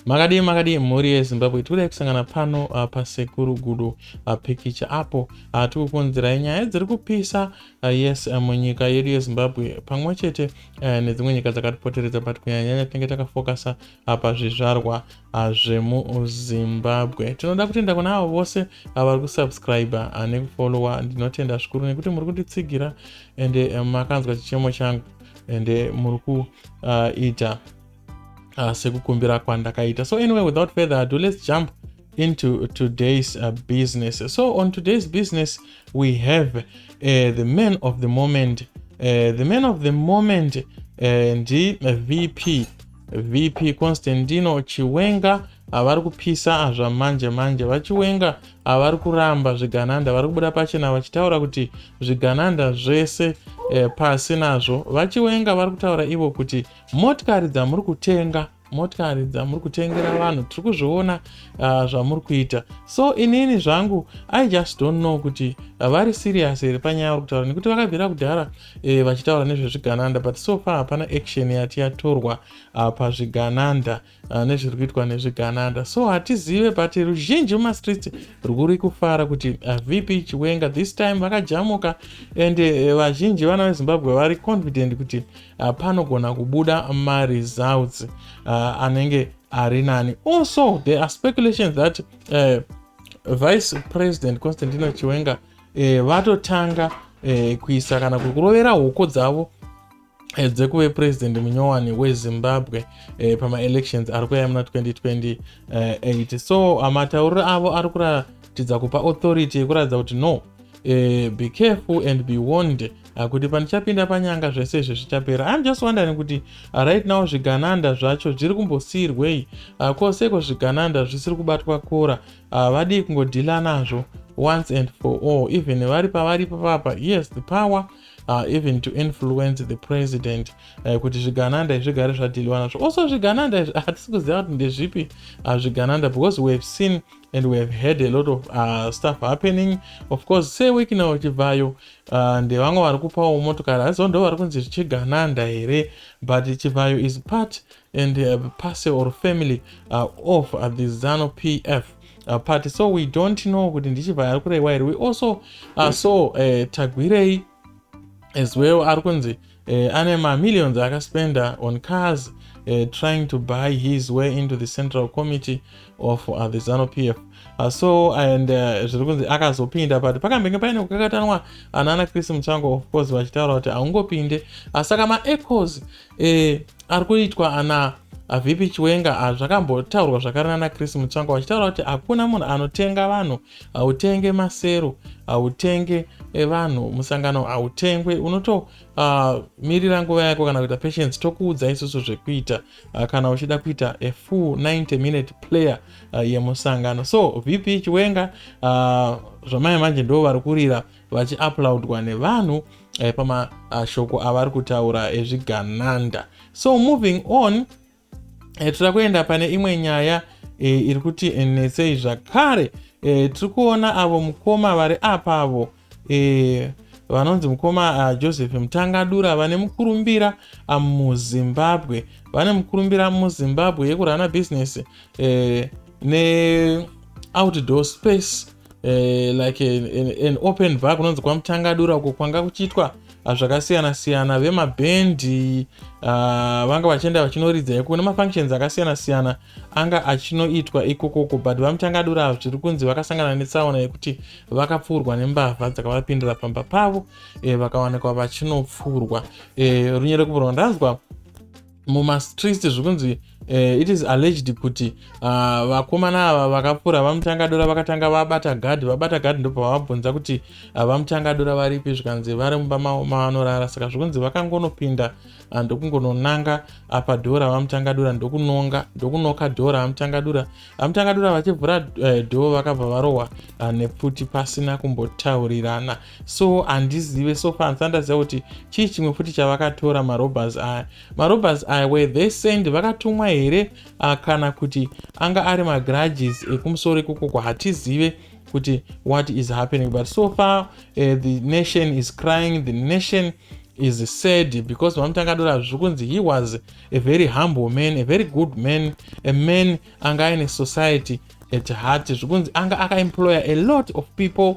makadii makadii mhuri yezimbabwe tikuda kusangana pano uh, pasekuru gudo uh, pikicha apo uh, tikukonzerai nyaya dziri kupisa uh, yes uh, munyika yedu yezimbabwe pamwe chete uh, nedzimwe nyika dzakatipoteredza but kunyanyanya tinenge takafokasa uh, pazvizvarwa uh, zvemuzimbabwe tinoda kutenda kuna avo vose uh, vari kusubscriber uh, nekufollowa ndinotenda zvikuru nekuti muri kunditsigira ende uh, makanzwa chichemo changu ende muri kuita uh, uh, sekukumbira kwandakaita so anyway without further ado let's jump into today's uh, business so on today's business we have uh, the man of the moment uh, the man of the moment uh, ndi vp vp constantino chiwenga havari kupisa azva manje manje vachiwenga havari kuramba zvigananda vari kubuda pachena vachitaura kuti zvigananda zvese eh, pasi nazvo vachiwenga vari kutaura ivo kuti Motikari dzamuri kutenga motikari dzamuri kutengera vanhu tiri kuzviona uh, zvamuri kuita so inini zvangu i just don't know kuti uh, vari serious here panyaya uri kutaura nekuti vakabvira kudhara eh, vachitaura nezvezvigananda but so far hapana action yati yatorwa uh, pazvigananda uh, nezviri kuitwa nezvigananda so hatizive but ruzhinji mumastreets rwuri kufara kuti uh, vp chiwenga this time vakajamuka and uh, vazhinji vana vezimbabwe vari confident kuti uh, panogona kubuda maresults uh, anenge ari nani also there are speculations that uh, vice president constantino chiwenga uh, vatotanga uh, kuisa kana kurovera hoko dzavo eh, dzekuve president munyowani wezimbabwe eh, pamaelections ari kuya muna 2028 so ah, matauriro avo ari kuratidza kupa authority yekuratidza kuti no eh, be careful and be warned ah, kuti pandichapinda panyanga zvese izvi zvichapera im just wondering kuti ah, right now zvigananda zvacho zviri kumbosiirwei ah, ko seko zvigananda zvisiri kubatwa kora ah, vadii kungodhila nazvo once and for all even vari pavari papapa yes the power uh, even to influence the president uh, kuti zvigananda izvi zvigare zvadhiliwa nazvo also zvigananda izvi hatisi ah, kuziva kuti ndezvipi uh, zvigananda because we have seen and we have heard a lot of uh, stuff happening of course seweek now chibvayo uh, ndevamwe vari kupawo motokari asi ndo vari kunzi zvichigananda here but chibvayo is part and uh, pase or family uh, of uh, the zano pf uh, party so we don't know kuti ndichibva ari kureiwa here we also uh, so uh, tagwirei as well ari kunzi uh, ane mamillions akaspenda on cars uh, trying to buy his way into the central committee of uh, the zano pf uh, so and uh, zviri kunzi akazopinda but pakambenge paine kukakatanwa anana chris muchango of course vachitaura kuti haungopinde uh, saka maecos e, ari kuitwa ana avp chiwenga ah, zvakambotaurwa zvakare nana chris mutsvanga vachitaura kuti hakuna munhu anotenga vanhu hautenge masero hautenge eh, vanhu musangano hautengwe unotomirira ah, uh, nguva yako kana kuita patience tokuudza isusu zvekuita uh, kana uchida kuita a full 90 minute player uh, yemusangano so vp chiwenga uh, zvamai manje ndo vari kurira vachiaplaudwa nevanhu eh, pamashoko ah, avari kutaura ezvigananda eh, so moving on eh, tira kuenda pane imwe nyaya eh, iri kuti eh, nesei zvakare eh, tiri kuona avo mukoma vari apa avo eh, vanonzi mukoma uh, joseph mutangadura vane mukurumbira uh, muzimbabwe vane mukurumbira muzimbabwe yekurana business eh, neoutdoor space eh, like an open bar kunonzi kwamutangadura uko kwanga kuchiitwa ah, zvakasiyana siyana vemabhendi uh, ah, vanga vachienda vachinoridza iko kune mafunctions akasiyana siyana anga achinoitwa ikokoko but vamutangadura zviri kunzi vakasangana netsaona yekuti vakapfuurwa nembavha dzakavapindira pamba pavo eh, vakawanikwa vachinopfuurwa eh, runyerekuburwa ndanzwa mumastreets zvikunzi uh, it is alleged kuti ah, vakomana uh, ava vakapfuura vamutangadora vakatanga vabata gad vabata gad ndopa vavabvunza kuti uh, ah, vamutangadora varipi zvikanzi vari mumba mavo mavanorara saka zvikunzi vakangonopinda uh, ndokungononanga apa dhora vamutangadura ndokunonga ndokunoka dhora vamutangadura vamutangadura vachivhura uh, dhoo vakabva varohwa uh, nepfuti pasina kumbotaurirana so handizive so far ndisati ndaziva kuti chii chimwe futi chavakatora marobers aya marobers aya were they send vakatumwa here uh, kana kuti anga ari magrudges ekumusoro ikokoko hatizive kuti what is happening but so far uh, the nation is crying the nation is sad because mamutangadora zviri kunzi he was a very humble man a very good man a man anga aine society at heart zviri kunzi anga akaemployer a lot of people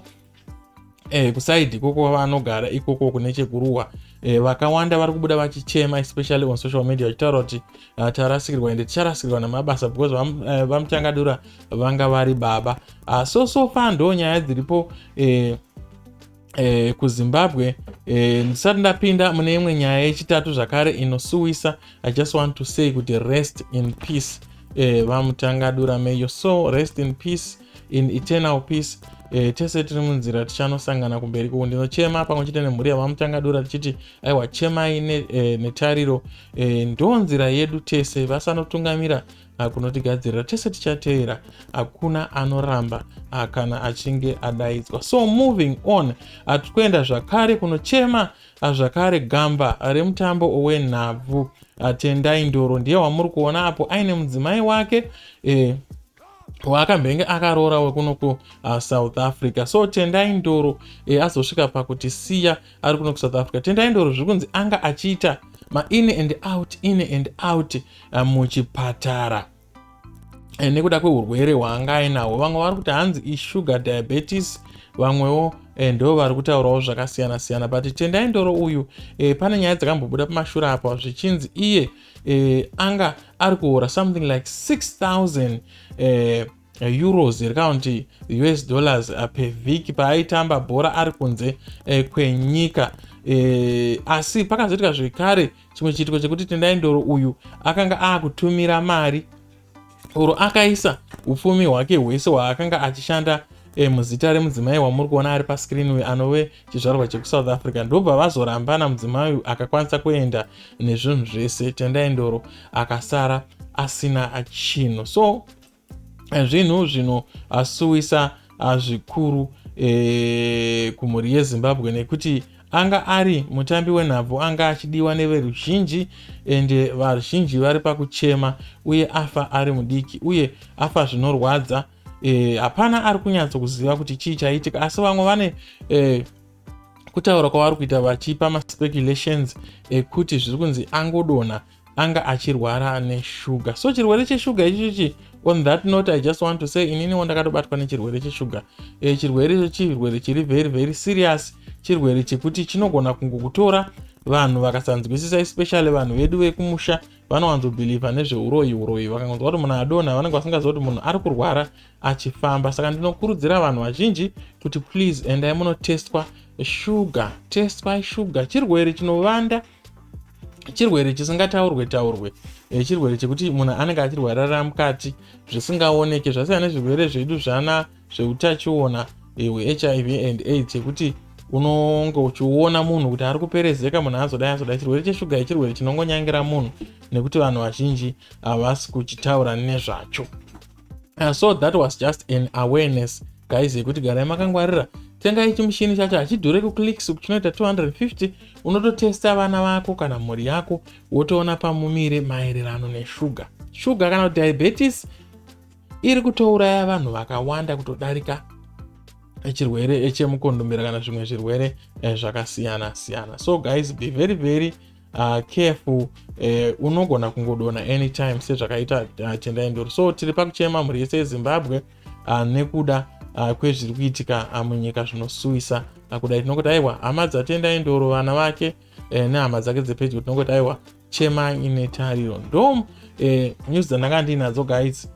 eh, kusaidi ikoko vanogara ikoko kune chekuruwa eh, vakawanda vari kubuda vachichema especially on social media vachitaura kuti uh, tarasikirwa ende ticharasikirwa nemabasa because eh, vamuchangadura uh, vanga vari baba uh, so so far ndo nyaya dziripo eh, eh, kuzimbabwe eh, ndisati ndapinda mune imwe nyaya yechitatu zvakare inosuwisa i just want to say kuti rest in peace eh, vamutangadura may your soul rest in peace in eternal peace e, tese tiri munzira tichanosangana kumberi kuku ndinochema pamwe chete nemhuri yavamutangadura tichiti aiwa chemai ne, e, netariro e, ndo nzira yedu tese vasanotungamira ah, kunotigadzirira tese tichateera hakuna anoramba ah, kana achinge adaidzwa so moving on hatiri kuenda zvakare kunochema ah, zvakare gamba remutambo wenhabvu tendai ndoro ndiye wamuri kuona apo aine mudzimai wake e, waakambenge akaroora wekuno kusouth uh, africa so tendai ndoro e, azosvika pakuti siya ari kuno kusouth africa tendai ndoro zviri kunzi anga achiita main and out in and out uh, muchipatara e, nekuda kweurwere hwaanga ainahwo vamwe vari kuti hanzi isugar diabetes vamwewo e, ndo vari kutaurawo zvakasiyana siyana but tendai ndoro uyu e, pane nyaya dzakambobuda pamashura apa zvichinzi iye eh, anga ari kuhora something like 6000 eh, euros here kana kuti us dollars eh, pevhiki paaitamba bhora ari kunze eh, kwenyika eh, asi pakazoitika zvekare chimwe chiitiko chekuti tendai ndoro uyu akanga akutumira mari or akaisa upfumi hwake hwese hwaakanga achishanda eh, muzita remudzimai wamuri kuona ari pascreen uyu anove chizvarwa chekusouth africa ndobva vazorambana mudzimai uyu akakwanisa kuenda nezvinhu zvese tendai ndoro akasara asina chinhu so eh, zvinhu zvinoasuwisa ah, zvikuru eh, kumhuri yezimbabwe nekuti Anga ari mutambi wenhabvu anga achidiwa neveruzhinji ende varuzhinji vari pakuchema uye afa ari mudiki uye afa zvinorwadza eh, hapana e, ari kunyatso kuziva kuti chii chaitika asi vamwe vane e, kutaura kwavari kuita vachipa maspeculations ekuti zviri kunzi angodonha anga achirwara neshuga so chirwere cheshuga ichichichi on that note i just want to say ininiwo ndakatobatwa nechirwere cheshuga e, eh, chirwere icho chirwere chiri very very serious chirwere chekuti chinogona kungokutora vanhu vakasanzwisisa especially vanhu vedu vekumusha vanowanzobhilivha nezveuroyi uroyi vakangonzwa kuti munhu adonha vanenge vasingaziva kuti munhu ari kurwara achifamba saka ndinokurudzira vanhu vazhinji kuti please endai munotestwa shuga testwai shuga chirwere chinovanda chirwere chisingataurwe taurwe eh, chirwere chekuti munhu anenge achirwarara mukati zvisingaoneke zvasiya nezvirwere zvedu zvana zveutachiona eh, hwehiv and aids chekuti unonge uchiona munhu kuti ari kuperezeka munhu azodai azodai chirwere cheshuga ichirwere chinongonyangira munhu nekuti vanhu vazhinji havasi kuchitaura nezvacho uh, so that was just an awareness guys yekuti garai makangwarira tengai chimushini chacho hachidhure kuclicks chinoita 250 unototesta vana vako kana mhuri yako wotoona pamumire maererano neshuga shuga kana kuti diabetes iri kutouraya vanhu vakawanda kutodarika chirwere chemukondombera kana zvimwe zvirwere eh, zvakasiyana siyana so guys be very very uh, careful eh, unogona kungodona anytime sezvakaita uh, tendai ndoro so tiri pakuchema mhuri yese yezimbabwe uh, nekuda uh, kwezviri kuitika uh, munyika zvinosuwisa uh, kudai tinongoti aiwa hama dzatendai ndoro vana vake eh, nehama dzake dzepedyo tinongoti aiwa chemai ine tariro ndom eh, news dzandanga ndiinadzo guys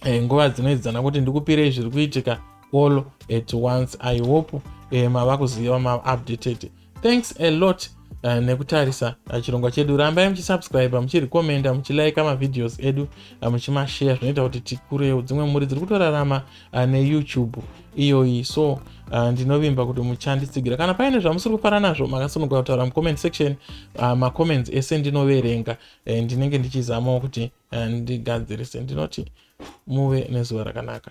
eh, nguva dzinoedzana kuti ndikupirei zviri kuitika all at once i hope eh, mava kuziva maupdated thanks a lot Eh, nekutarisa eh, chirongwa chedu rambai muchisubscribe muchirekomenda muchilaika mavideos edu eh, muchimashare zvinoita kuti tikurewo dzimwe mhuri dziri kutorarama neyoutube iyoyi so ndinovimba kuti muchanditsigira kana paine zvamusiri kufara nazvo makasununguka kutaura mucomment section macomments ese ndinoverenga ndinenge ndichizamawo kuti eh, ndigadzirise ndinoti muve nezuva rakanaka